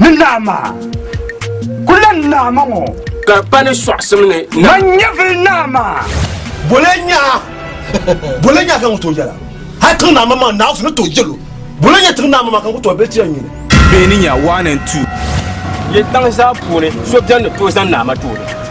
ni naɣima ku lan naɣima ŋɔ ka pa ni sɔɣisim ni na ban nyɛ vili naɣima bole nyaa bole nyaa ka ŋun tooi yɛla hali tiŋ naɣima maa naɣifu ni tooi yɛlo bole nyɛ tiŋ naɣima maa ka ŋun tooi bɛ ti ya nyini bɛ ni nya one and two. Yi tiŋ zaa puuni so bɛn ni tooi zani naɣima tooni.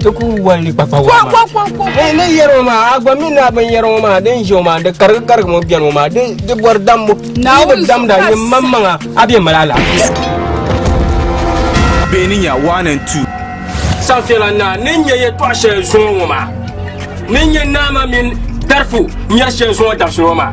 ti ku wali ni kpakpa waa maa ni yɛri ŋɔ maa a gba mi naa bin yɛri ŋɔ maa din ʒe ŋɔ maa di karigi karigi ŋɔ bɛni ŋɔ maa di bɔri dambu yi bi damda ni maŋ maŋa a bɛ mali alaafee bɛ ni nya one and two sanfɛla naa ni nyɛ yɛtɔɣ shɛli zuŋɔ ŋɔ maa ni nyɛ naama mini tarifu nyɛri shɛli zuŋɔ dabisili ŋɔ maa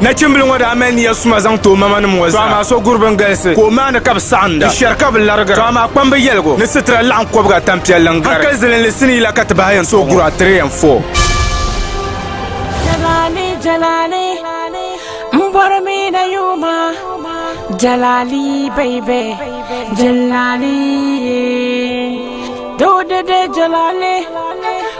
Nachimbili ŋɔ daa mali nia suma zaŋ ti o mamanim ŋɔ zaa, to amaa so guri bini galisi ka o maani ka bɛ saɣinda, n shɛri ka bɛ larigira, to amaa kpambu yɛligu ni sitira laɣim kɔbiga tampiɛlli n-gari. Hankali zilinli sinii la ka ti bahi yɛn so guri a tiri yɛn fɔ. Jalali jalali m bɔri mi na yuuma jalali baby jalali doo dede jalali.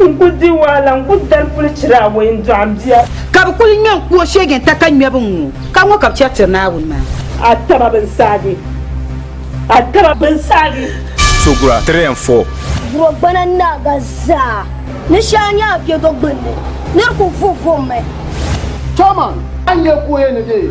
N ku di wahala, n ku dali puli chira awɔi n dɔɣi m bia. Ka bɛ kuli ŋme n ku o sheege n-ta ka ŋmɛbu ŋ-ŋɔ ka ŋɔ ka bɛ chɛ tiri Naawuni maa. A taba bɛn saagi! A taba bɛn saagi! So gura tiri yɛn foo. Gurogbana ni naaga zaa ni shɛli nyɛ a piɛdo gbunni, nir ku vuhi vuhimi. Chairman, a ni nya ka o yɛn ni deei